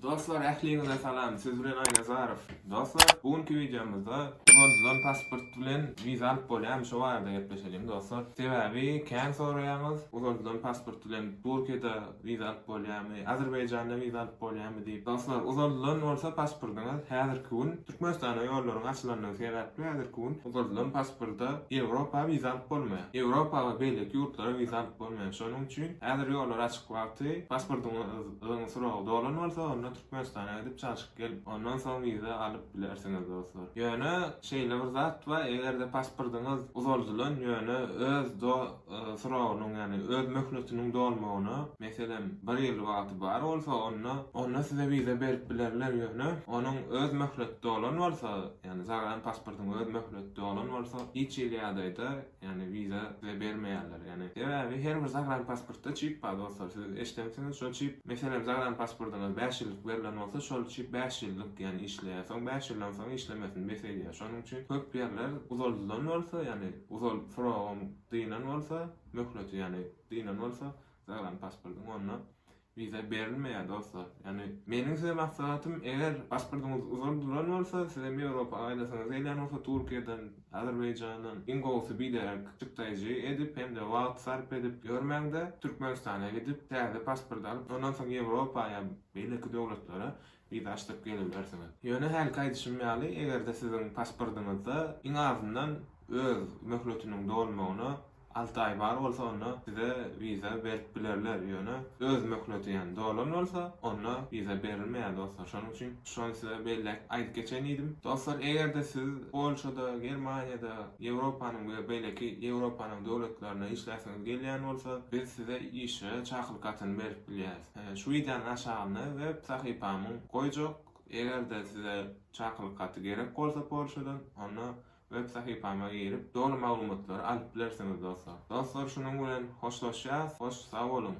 Dostlar ähliňize salam siz bilen Aýnazarow Dostlar bu günki wideomyzda Uzadylan pasport bilen wiza alyp bolýamy şo barada gepleşeliň dostlar sebäbi kän soraýaňyz uzadylan pasport bilen Turkiýada wiza alyp bolýamy Azerbaýjanda wiza alyp bolýamy diýip dostlar uzadylan bolsa pasportyňyz häzirki gün Türkmenistana ýollaryň açylandygy sebäpli häzirki gün uzadylan pasporta Ýewropa wiza alyp bolmaýar Ýewropa we beýleki ýurtlara wiza alyp bolmaýar şonuň üçin häzir ýollar açyk wagty pasportyňyz Gyzyň suragy dolan bolsa onda Türkmenistana gidip çalşyp gelip ondan soň wiza alyp bilersiňiz dostlar. Ýöne şeýle bir zat bar egerde pasportyňyz uzaldylan ýöne öz do suragynyň ýagny öz möhletiniň dolmagyna meselem bir ýyl wagty bar bolsa onda onda size wiza berip bilerler ýöne onuň öz möhleti dolan bolsa ýagny zagan pasportyň öz möhleti dolan bolsa hiç hili ýagdaýda Ýagny wiza size bermeýärler. Ýagny sebäbi her bir zagranpasportda çip bar dostlar. Siz eşdensiňiz şo çip meselem zagranpasportyňyz bäş ýyllyk berlen bolsa şol çip bäş ýyllyk ýagny işleýär. Soň bäş ýyldan soň işlemesini bes edýär. Şonuň üçin köp ýerler uzaldylan bolsa ýagny uzal srogam dynan bolsa möhleti ýagny dynan bolsa zagranpasportyň onda Wiza berilmeýär dostlar. Ýagny meniň size maslahatym eger pasportyňyz uzal duran bolsa sizem Ýewropa gaýdasyňyz gelýän bolsa Türkiýeden, Azerbaýjandan iň gowusy biderek çykdaýjy edip hem-de wagt sarp edip ýörmäňde Türkmenistana gidip täze pasport alyp ondan soň Ýewropa ýa beýleki döwletlere Wiza açdyryp geňelmersiňiz. Ýöne hälki aýdyşym ýaly, eger-de siziň pasportyňyzda iň azyndan öz möhletiniň dolmagyna alty aý bar bolsa, onda size wiza berip bilerler. Ýöne öz möhleti ýany dolan bolsa, onda wiza berilmeýär dostlar. Şonuň üçin şony size belläp aýdyp geçeýin diýdim. Dostlar, eger-de siz Polşada, Germaniýada, Ýewropanyň we beýleki Ýewropanyň döwletlerinde işläsiňiz gelýän bolsa, biz size işe çakylyk hatyny berip bilýäris. Şu wideonyň aşagynda web sahypamyň goýjak. Eger-de size çakylyk haty gerek bolsa Polşadan, onda web sahypama girip, doly maglumatlary alyp bilersiňiz dostlar. Dostlar şunuň bilen hoşlaşýas, hoş sag boluň.